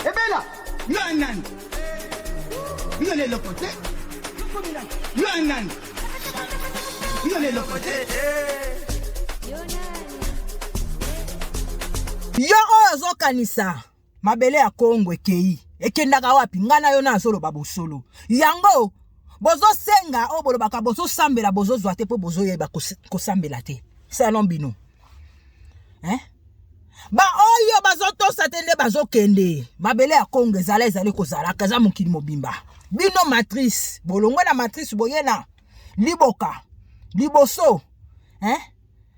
ebela yo anani yo na eloko te yo anani yo na eloko te yo oyo ozokanisa mabele ya kongo ekei ekendaka wapi ngai na yo na azoloba bosolo yango bozosenga oyo bolobaka bozosambela bozozwa te mpo bozoyeba kosambela te salon bino eh? baoyo bazotosa te nde bazokende mabele ya kongo ezala ezali kozalaka eza mokili mobimba bino matrice bolongwe na matrice boye na liboka liboso eh?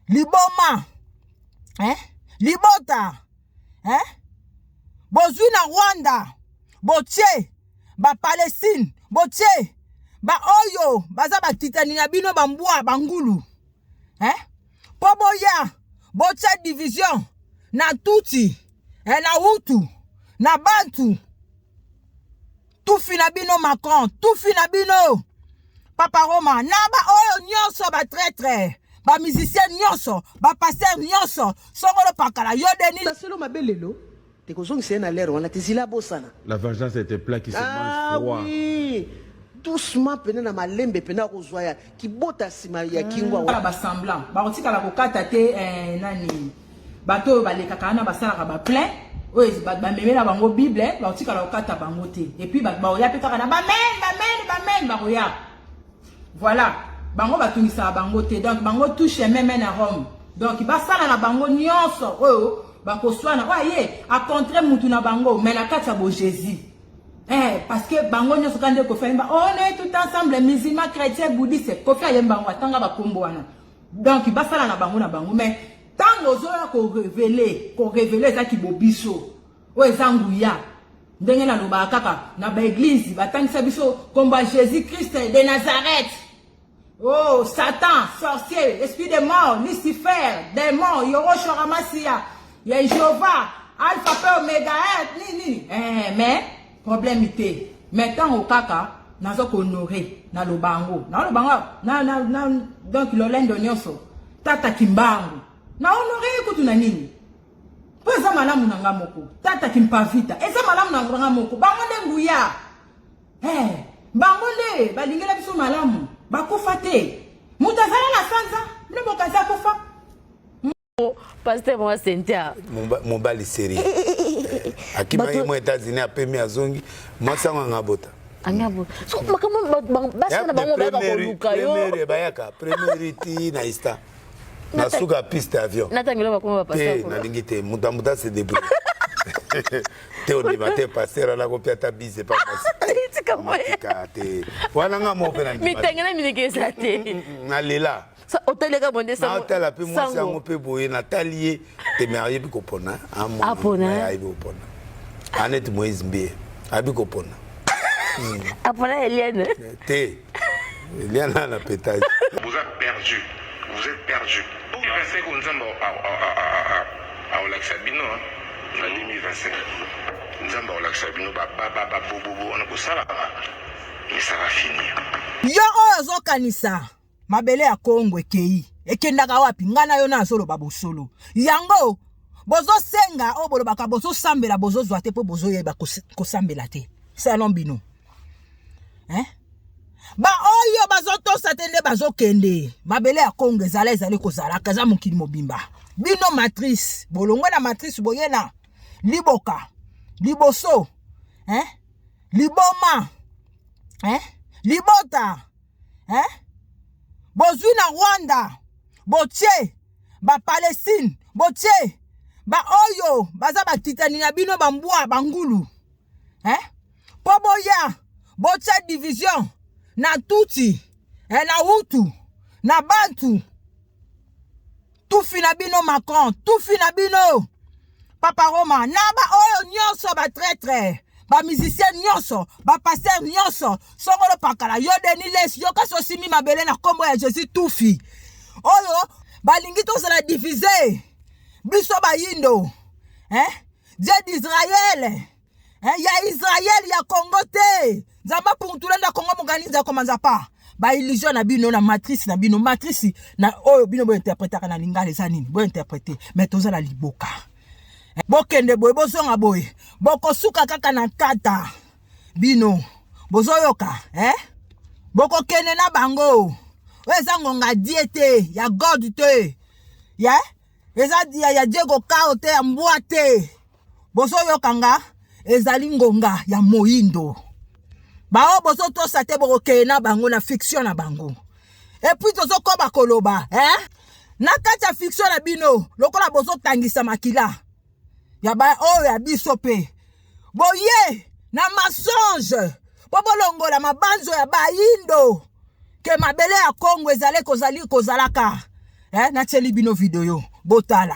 liboma eh? libota eh? bozwi na rwanda botie bapalestine botie baoyo baza bakitani na bino bambwa bangulu eh? mpo boya botya division na tuti eh, na hutu na bantu tufi na bino macron tufi na bino papa roma na baoyo nyonso batraitre bamusicien nyonso bapaster nyonso songolo pakala yo denisaselo mabe lelo Te kozongisa ye na lere wana te zila abosana. La vengeance est un plat qui se ah mange froid. Ah oui. doucement pene na malembe pene akozwa ya kibota nsima ya kingwa wana ba semblant bakotikala kokata te eh, nani bato oyo balekaka wana basalaka ba plein oyo bamemela bango bible eh, bakotikala kokata bango te epuis bakoya mpe kaka na bamen bamen bamen bakoya Voilà, bango batungisaka bango te. Donc bango touche meme na Rome. Donc basala na bango nyonso oyo bakoswana oyo aye acontre mutu na bango mais na kati ya bo Jésus. Eh, parce que bango nyonso kaka nde kofi ayemba on est tout ensemble musulman chrétien bouddhiste kofi ayemba yango atanga bakombo wana donc basala na bango na bango mais ntango ozoya korevele korevele eza kibobiso oyo eza nguya ndenge nalobaka kaka na baeglize batangisa biso nkombo ya jésus christ de nazareth oh satan sorcier esprit de mort lucifer demon yoroshora masiya ya jehova alpha mpe omega eh, nini nini eh, mais problème te mais ntango kaka naza kohonore naloba yango naloba yango donc lolendo nyonso tata kimbangu na honore ye kutu na nini mpo eza malamu na nga moko tata kimpavita eza malamu na nga moko bango nde nguya hey, eh, bango nde balingela biso malamu bakufa te moto azala na sanza mpe moto aza kufa paster mwa sentia mobali seri eh, eh, eh, akimaki mwa états-unis apemi azongi mwasi yango anga bota makambo basi na bango bayaka koluka yo bayaka première ti na istan na suka ya piste ya avion natangela bakoma ba pasteur te nalingi te moto ya moto ase debrouille te ondima te pasteur ana kopia ata bise pa tika te wana nga moko mpe na mitenge na mineke eza te mm, mm, mm, nalela otaleka bonde natala mpe mwasi yango mpe boye natali ye teme ayebi kopona amona ayebi kopona anete moise mbie ayebi kopona apona eliane te eliana na petage vous êtes perdu vous êtes perdu 2025 oyo nzambe aolakisa bino na 2025 nzambe aolakisa bino babobobo wana bosalaka misaka fini yo oyo ozokanisa mabele ya kongo ekei ekendaka wapi ngai na yo na azoloba bosolo yango bozosenga oyo bolobaka bozosambela bozozwa te mpo bozoyeba kosambela te salon bino eh? baoyo bazotosa te nde bazokende mabele ya kongo ezala ezali kozalaka eza mokili mobimba bino matrice bolongwe na matrice boye na liboka liboso eh? liboma eh? libota eh? bozwi na rwanda botie bapalestine botie baoyo baza bakitani na bino bambwa bangulu eh? mpo boya botya division na tuti eh, na hutu na bantu tufi na bino macron tufi na bino papa roma na baoyo nyonso batraitre bamusicien nyonso bapaster nyonso soko lopakala yo deni lesi yo kasi osimbi mabele na nkombo ya jésus tufi oyo balingi tozala divise biso bayindo eh? Dieu d'Israël eh, ya Israël ya Congo te nzambe apuntula nda Congo moganizi akomanza pa ba illusion na bino na matrice na bino matrice na oyo bino bo interpretaka na lingala eza nini bo interprete mais toza na liboka eh, bokende boye bozonga boye bokosuka kaka na kata bino bozoyoka eh? bokokende na bango oyo eza ngonga die te ya god te ya yeah? eza dia ya diego kao te ya mbwa te bozoyoka nga ezali ngonga ya moindo baoyo bozotosa te bokokeye na bango na fiction na bango epuis tozokoba koloba eh? na kati ya fiction na bino lokola bozotangisa makila ya ba oyo ya biso pe boye na mensonge po bolongola mabanzo ya bayindo ke mabele ya Congo ezali kozali kozalaka eh, natieli bino video botala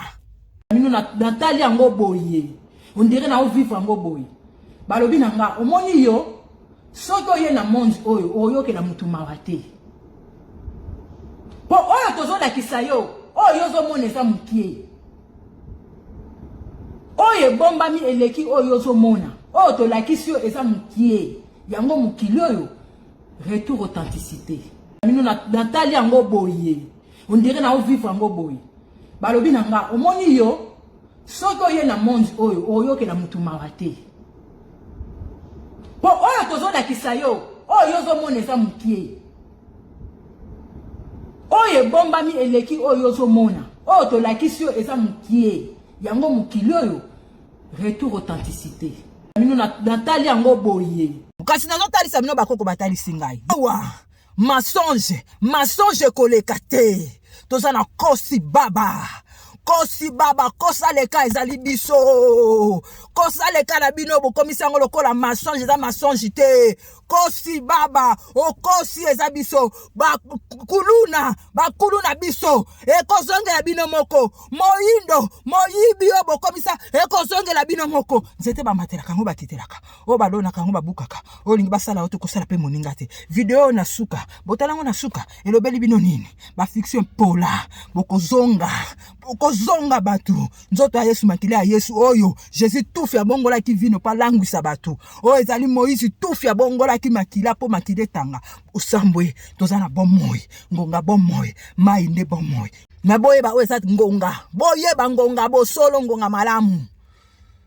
bino natali yango boye ondire na ovivre yango boye balobi na nga omoni yo soki oye na monde oyo oyokela motu mawa te mpo oyo tozolakisa yo oyo ozomona eza mokie oyo ebombami eleki oyo ozomona oyo tolakisi yo eza mokie yango mokili oyo retour authenticité bino natali yango boye ondire na ovivre yango boye balobi na nga omoni yo soki oye na monde oyo oyokela motu mawa te mpo oyo tozolakisa yo oyo ozomona eza mokie oyo ebombami eleki oyo ozomona oyo tolakisi yo eza mokie yango mokili oyo retour authenticité bino natali yango boye kasi nazotalisa bino bakoko batalisi ngai awa masonge masonge ekoleka te toza na kosi baba kosi baba kosa leka ezali biso kosa leka na bino bokomisi yango lokola masonge eza masonge te okosi baba okosi eza biso bakuluna bakuluna biso ekozongela bino moko moyindo moyibi oyo bokomisa ekozongela bino moko nzete bamatelaka yango bakitelaka oyo balonaka yango babukaka oyo olingi basala oyo tokosala mpe moninga te video oyo na suka botala yango na suka elobeli bino nini bafiction pola bokozonga kozonga bato nzoto ya yesu makila ya yesu oyo jésus tufi abongolaki vino mpo alangwisa bato oyo ezali moïse tufi abongolaki makila mpo makila etanga osambwe toza na bomoi ngonga bomoi mai nde bomoi na boyeba oyo eza ngonga boyeba ngonga bosolo ngonga malamu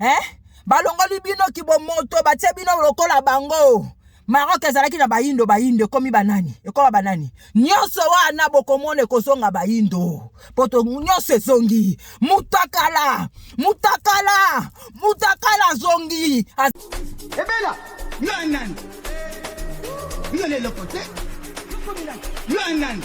eh? balongoli bino kibomoto batie bino lokola bango Maroc ezalaki na bayindo bayindo ekomi banani ekoma banani nyonso wana bokomona ekozonga bayindo poto nyonso ezongi mutakala mutakala mutakala azongi Az... ebela yo anani yo na eloko te yo anani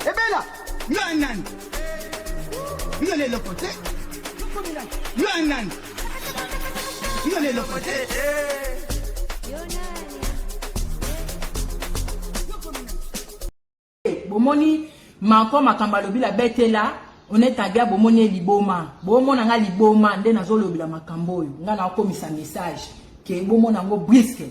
ebela yo anani yo na eloko te yo anani yo na eloko te bomoni mako makambo alobi la betela onetagia bomoni ye liboma bomona nga liboma nde nazolobela makambo oyo nga naokomisa message ke bomona yango briske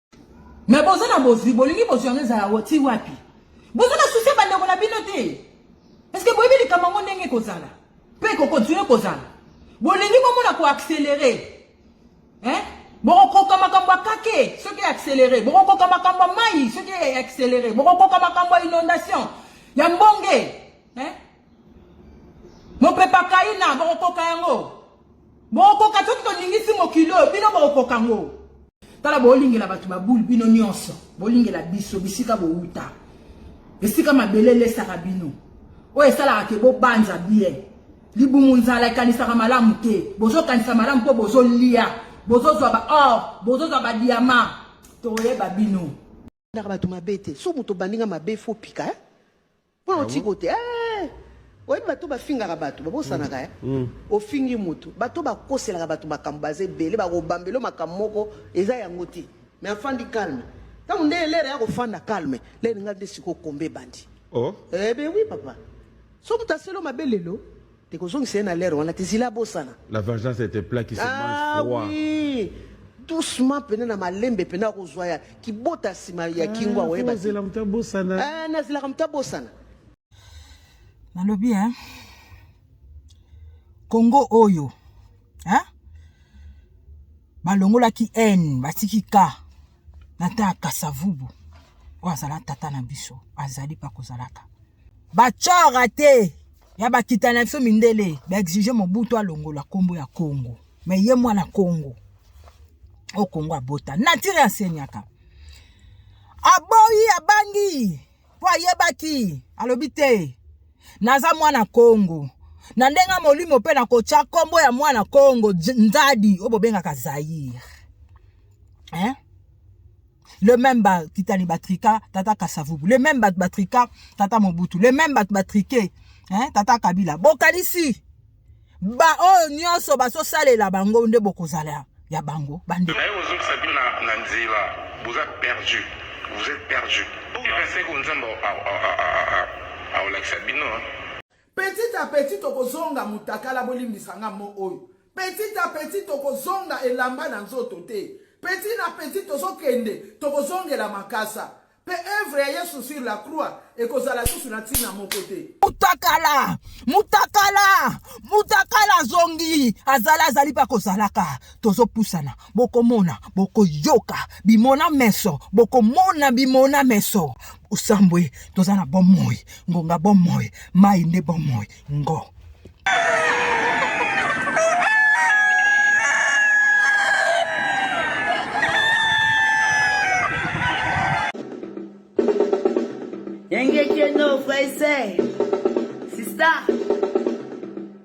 Mais boza na bozwi bolingi bozwi yango ezala woti wapi boza na susi ya bandeko na bino te parce que boyebi likambo yango ndenge ekozala mpe ekokontinue kozala bolingi bomona koaccélere eh? bokokoka makambo ya kake soki accélere bokokoka makambo ya mai soki accélere bokokoka makambo ya inondation ya mbonge eh? mopepa kaina bokokoka yango bokokoka soki tolingisi mokili oyo bino bokokoka yango tala bolingela bato babule bino nyonso bolingela biso bisika bowuta esika mabele elesaka bino oyo esalaka ke bobanza bien libumu nzala ekanisaka malamu te bozokanisa malamu mpo bozolia bozozwa baor bozozwa badiama toyeba bino ndaka bato mabe te so moto obandi nga mabe fo pika eh? mpo otiko te eh! oyebi bato bafingaka bato babosanaka eh? mm. mm. ofingi moto bato bakoselaka bato makambo baza ebele bakobambelo makambo moko eza yango te me afandi calme ntango nde elere ya kofanda calme lere nga nde sikokombe ebandi oh. eh, ben oui papa so moto aselo mabe lelo Te kozongisa ye na lere wana te zila abosana. La vengeance est un plat qui se ah mange froid. Ah oui. doucement pene na malembe pene akozwa ya kibota nsima ya kingo ah, akoyeba nazela moto abosana ah, nazelaka moto abosana nalobi e kongo oyo e balongolaki n batiki ka na ntan ya kasavubu oyo azala tata na biso azali mpe akozalaka bacora te ya bakita na biso mindele baexige mobutu alongola nkombo ya kongo me ye mwana kongo o kongo abota natire asenyaka aboyi abangi mpo ayebaki alobi te naza mwana kongo na ndenge ya molimo mpe nakotya nkombo ya mwana kongo nzadi oyo bobengaka zaire eh? le même ba titali batrika tata kasavubu le même bato batrika tata mobutu le même bato batrike hein, tata kabila bokanisi baoyo nyonso bazosalela bango nde bokozala ya bango bande naye ozokisa bino na nzela boza perdu vous êtes perdu epeseko nzambe aolakisa bino Petit à petit tokozonga mutakala bolimbisa nga mo oyo. Petit à petit tokozonga elamba na nzoto te. Petit na petit tozokende tokozongela makasa. Pe œuvre ya Yesu sur la croix ekozala lisusu na ntina moko te. Mutakala, mutakala, mutakala azongi, azala azali pe akozalaka. Tozopusana. bokomona bokoyoka bimona meso bokomona bimona meso osambwe toza na bomoi ngonga bomoi mai nde bomoi ngo Engekeno, Fraise, Sista.